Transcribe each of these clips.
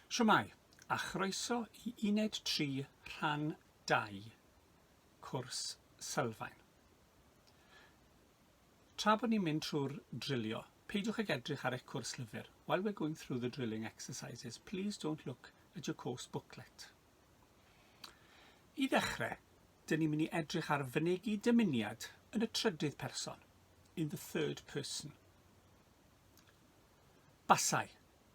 Shwmae, a chroeso i Uned Tri, Rhan Dau, Cwrs Sylfaen. Tra bod ni'n mynd trwy'r drilio, peidiwch ag edrych ar eich cwrs llyfr. While we're going through the drilling exercises, please don't look at your course booklet. I ddechrau, dyn ni'n mynd i edrych ar fynegi dymuniad yn y trydydd person, in the third person. Basai,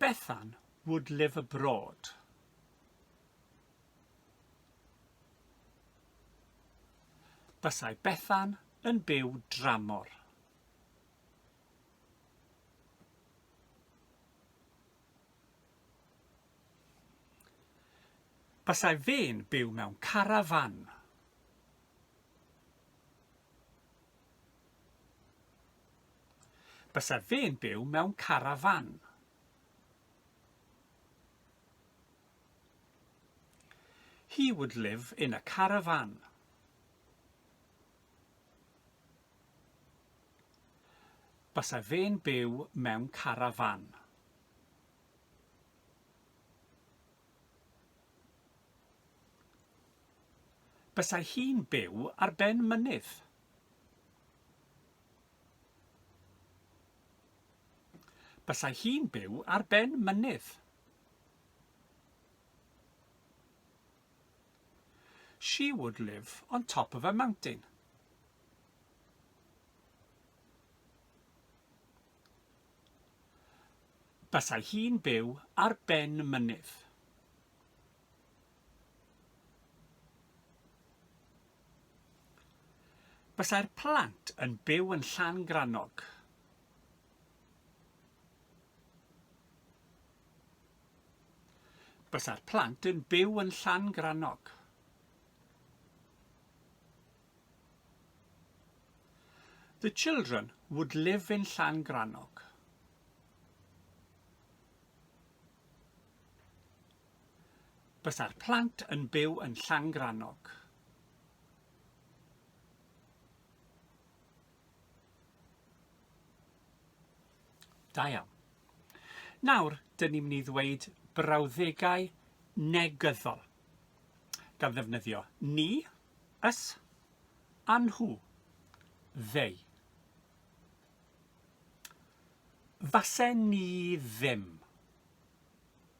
Bethan would live abroad. Bysai Bethan yn byw dramor. Bysai fe'n byw mewn carafan. Bysa fe'n byw mewn carafan. He would live in a caravan. Bysa fe'n byw mewn carafan. Bysai hi'n byw ar ben mynydd. Basai hi'n byw ar ben mynydd. She would live on top of a mountain. Basai hi'n byw ar ben mynydd. Byddai'r plant yn byw yn Llangrannog. Byddai'r plant yn byw yn Llangrannog. The children would live in Llangrannog. Bysa'r plant yn byw yn Llangrannog. Da iawn. Nawr, dyn ni'n mynd i ddweud brawddegau negyddol gan ddefnyddio ni, ys, a nhw, they. Fase ni ddim.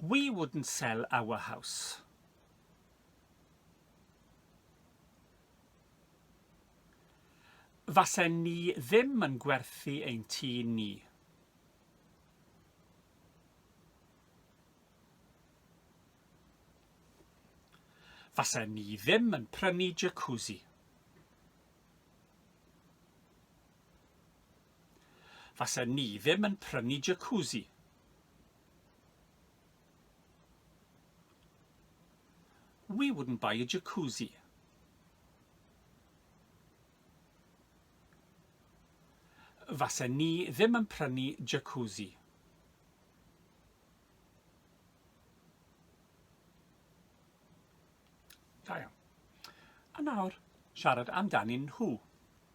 We wouldn't sell our house. Fasen ni ddim yn gwerthu ein tŷ ni. Fasen ni ddim yn prynu jacuzzi. Fasen ni ddim yn prynu jacuzzi. We wouldn't buy a jacuzzi. Fasen ni ddim yn prynu jacuzzi. Da iawn. A nawr, siarad amdanyn nhw.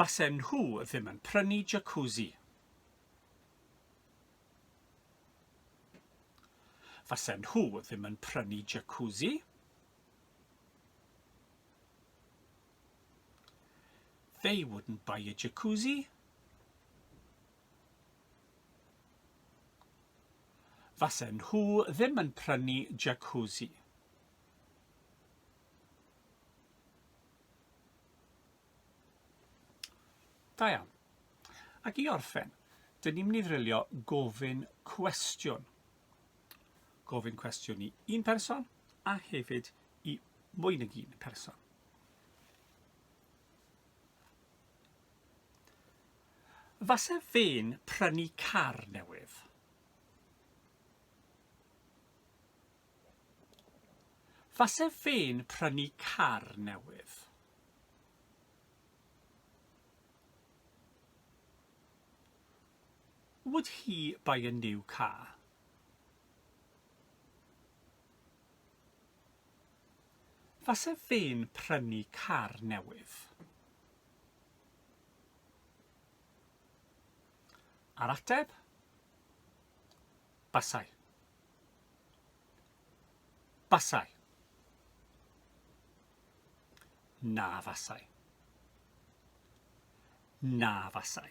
Fasen nhw ddim yn prynu jacuzzi. Fasen nhw ddim yn prynu jacuzzi. They wouldn't buy a jacuzzi. Fasen nhw ddim yn prynu jacuzzi. Da iawn. Ac i orffen, dyn ni'n mynd i ddrilio gofyn cwestiwn. Gofyn cwestiwn i un person a hefyd i mwy nag un person. Fase fe'n prynu car newydd. Fase fe'n prynu car newydd. Would he buy a new car? Fase fe'n prynu car newydd. A'r ateb? Basai. Basai. Na fasai. Na fasai.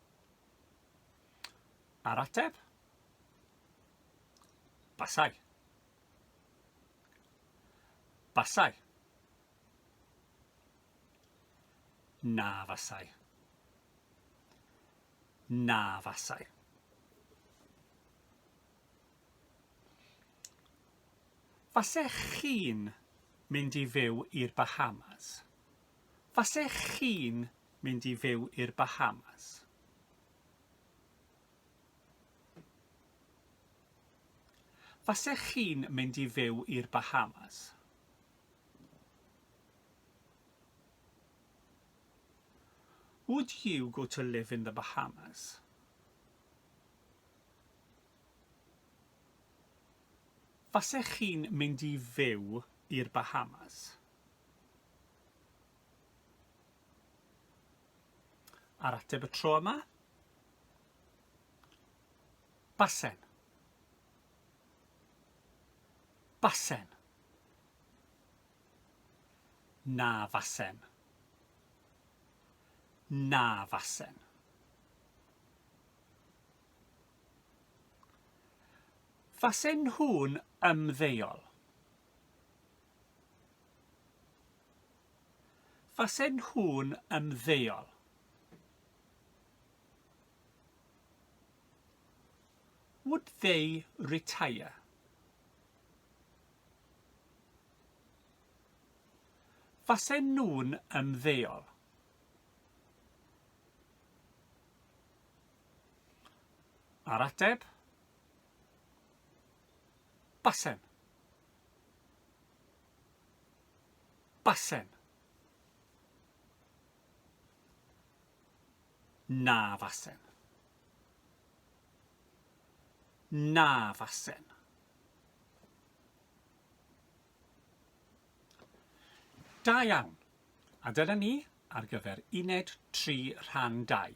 A'r ateb? Basai. Basai. Na fasai. Na fasai. Fasech chi'n mynd i fyw i'r Bahamas? Fasech chi'n mynd i fyw i'r Bahamas? Fasech chi'n mynd i fyw i'r Bahamas? Would you go to live in the Bahamas? Fasech chi'n mynd i fyw i'r Bahamas? Ar ateb y tro yma. Basen. Basen. Na fasen. Na fasen. Fasen nhw'n ymddeol. Fasen nhw'n ymddeol. Would they retire? Fasen nhw'n ymddeol. A'r ateb? Basen. Basen. Na fasen. Na fasen. Da iawn. A dyna ni ar gyfer uned 3 rhan 2.